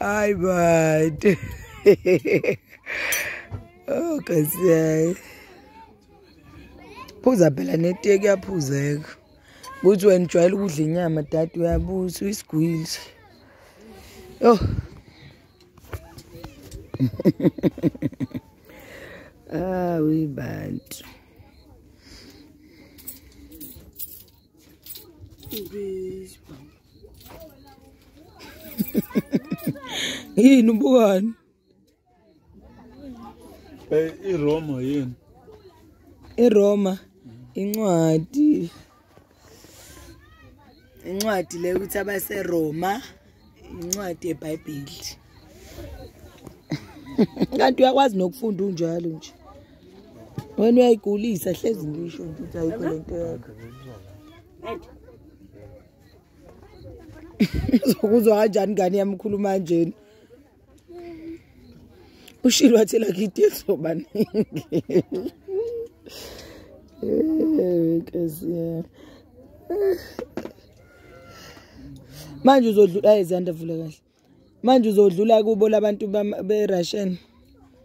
Hi, bud. oh, kasi phuza phela neteki yaphuzeka ukuthi wena ujwayele ukudla inyama dade uyabusa uyisigwili yho awi ah, bantu yini ubukani iroma yini iroma incwadi incwadi le ukuthi abaseroma incwadi yebhayibheli kanti uyakwazi nokufunda unjalo nje wena uyayigulisa hlezi ngisho nje ukuthi ayikho le nto yakho uzokuzwa kanjani ngane yami ukhuluma kanjena ushilo wathi lakithi ezoba ningi eh, eh. manje uzodlula izanda vula kahle manje uzodlula kubo labantu be-russian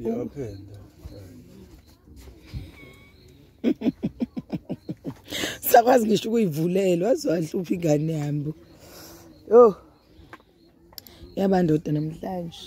iyaphenda sakwazi ngisho ukuyivulela waze wahlupha ingane yami yo yabandoda namhlanje